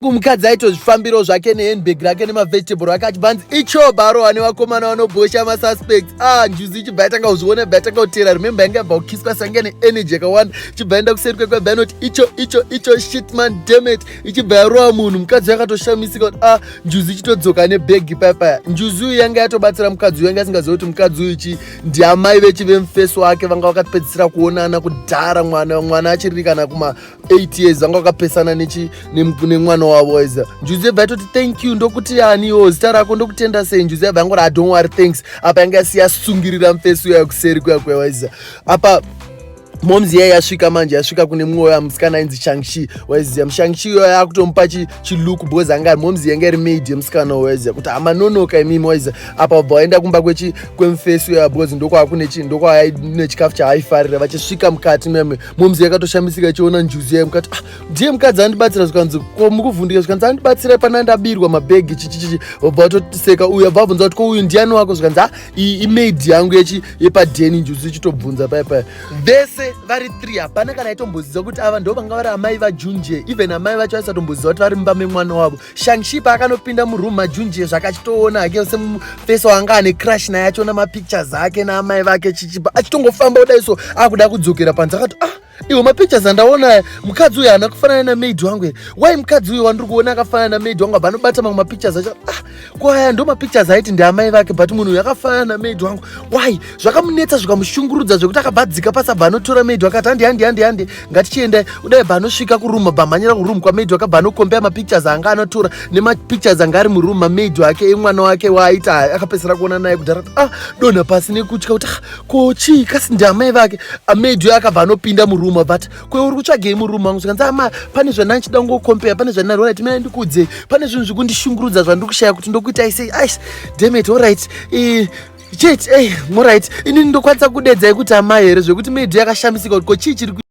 Mukadzi aitozvifambirawo zvake nehandbag rake nemavegetable ake achibva anzi icho baro ane vakomana vanobhosha masuspects ah njuzi ichibva yatanga kuzviona ibva yatanga kutera remember yanga yabva kukiswa sange neenergy yakawanda ichibva yaenda kuseri kwekwe ibva yanoti icho icho icho shitman demet ichibva yarowa munhu mukadzi yakatoshamisika kuti ah njuzi ichitodzoka nebhegi payapaya njuzi uyu yanga yatobatsira mukadzi uyu yanga asingaziva kuti mukadzi uyu chi ndiamai vechi vemufesi wake vanga vakapedzisira kuonana kudhara mwana mwana achiririkana kuma 8 years vanga vakapesana nemwana wavo is njuzi yabva yatoti thank you ndokuti yani yo zita rako ndokutenda sei njuzi yabva yangoti adon wari thanks apa yanga yasiyasungirira mfesi uya kuseri kuya kwewaiza apa moms yeye yasvika manje yasvika kune mumwe uya musikana ainzi shangshi waiziya mushangshi iyoyo yakutomupa chiluku because anga ari moms yenge iri maid yemusikana waiziya kuti hamanonoka imimi waiziya apa vabva vaenda kumba kwemufesi uya because ndokwava kune chikafu chaaifarira vachisvika mukati meme momzi yakatoshamisika ichiona njuzi yayo mukati ah, ndiye mukadzi andibatsira zvikanzi komukuvhundika zvikanzi andibatsira pana ndabirwa mabhegi chichichichi vabva vatoseka uyu abva abvunza kuti ko uyu ndiani wako zvikanzi ah, iyi imaid yangu yechi yepadheni njuzi ichitobvunza paya paya vese vari three hapana kana aitomboziva kuti ava ndo vanga vari amai vajunje even amai vacho vaisatombozviziva kuti vari mumba memwana wavo Shangshi paakanopinda muroom majunjie zvakachitoona hake semufeso anga ane crush naye achiona mapictures ake naamai vake chichipa achitongofamba kudai so akuda kudzokera panze akati ah iwo mapictures andaona mukadzi uyu haana kufanana namaid wangu here why mukadzi uyu wandiri kuona akafanana namaid wangu apa anobata mamwe mapictures acho ah kwaya ndo mapictures aiti ndiamai vake but munhu uyu akafanana namaid wangu why zvakamunetsa zvikamushungurudza zvekuti akabva adzika pasabva anotora maid wakati handi handi handi handi ngatichiendai kudai baanosvika kuroom bamhanyira kuroom kwamaid wake baanokombea mapictures anga anotora nemapictures anga ari muroom mamaid wake emwana wake waaita akapedzisira kuona naye kudhara ah donha pasi nekutya kuti ah, ko chii kasi ndiamai vake amaid uyo akabva anopinda muroom but kwe uri kutsvagei muroom mangu zvikanzi ama ah, pane zvandina ndichida kungokombea pane zvandina rorit mina ndikuudzei pane zvinhu zvekundishungurudza zvandiri kushaya kuti ndokuitai sei ice demet allright eh, chete ey eh, morit inini ndokwanisa kudedzai kuti amai here zvekuti maid yakashamisika kuti ko chii chiri